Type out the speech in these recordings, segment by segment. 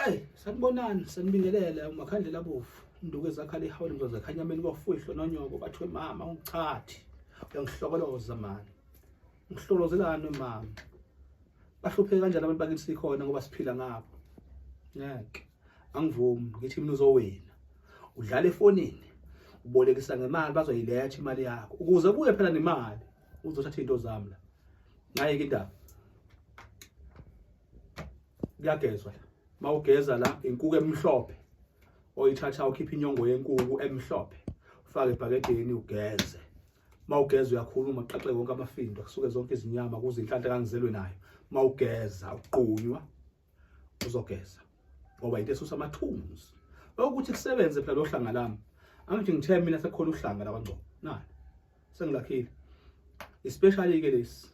Hey, sanibonani, sanibingelela umakhandlela bovu. Induku ezakhala ihawule mzoza khanyameni kwafuhlwe nonyoko bathiwe mama ungichathi. Uyangihlokoloza mani. Ngihlolozelani mama? Bahlupheke kanjani abantu bakithi sikhona ngoba siphila ngabo. Ngeke. Angivumi ngithi mina uzowena. Udlala efonini. Ubolekisa ngemali bazoyiletha imali yakho. Ukuze kuye phela nemali uzothatha into zami la. Ngayeke indaba. kuyagezwa la mawugeza la inkuku emhlophe oyithatha ukhipha inyongo yenkuku emhlophe ufake ebhakedeni ugeze mawugeza uyakhuluma qaxe konke amafindo kusuke zonke izinyama kuze inhlanhla kangizelwe nayo mawugeza uqunywa uzogeza ngoba into esusa amathunzi ukuthi kusebenze phela lo hlanga lami angithi ngithe mina sekukhona uhlanga lakwaNgcobo nani sengilakhile especially ke lesi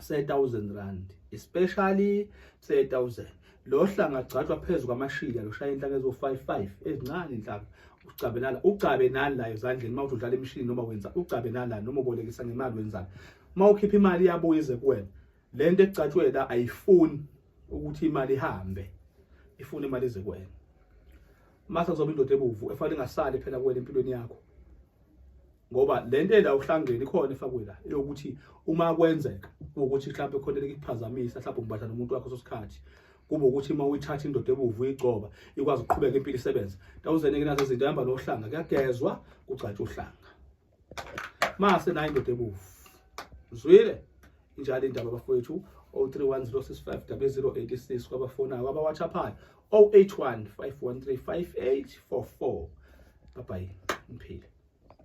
se-1000 rand especially se-1000 lo hlanga gcatshwa phezu kwamashila lushaya inhlaka ezo-55 ezincane inhlaka ucabe nala ucabe nani la ezandleni uma uthi udlala imishini noma wenza ucabe nala noma ubolekisa ngemali wenzani uma ukhipha imali iyabuya ize kuwena le nto ecatshwe la ayifuni ukuthi imali ihambe ifuna imali ize kuwena mase kuzoba indoda ebuvu efanele ingasali phela kuwena empilweni yakho ngoba le nto ela uhlangene ikhona efakwe la eyokuthi uma kwenzeka ukuthi mhlawumbe khona likuphazamisa mhlawumbe umbadla nomuntu wakho sosikhathi kube ukuthi uma uyithatha indoda ebuvu uyigcoba ikwazi ukuqhubeka impilo isebenza tawuzene ke nazo izinto ehamba nohlanga kuyagezwa kugcatshwa uhlanga mase nayo indoda ebuvu zwile injalo indaba bafowethu 0310650086 kwabafonayo kwabawatshaphayo 081 513 5844 bye bye mphile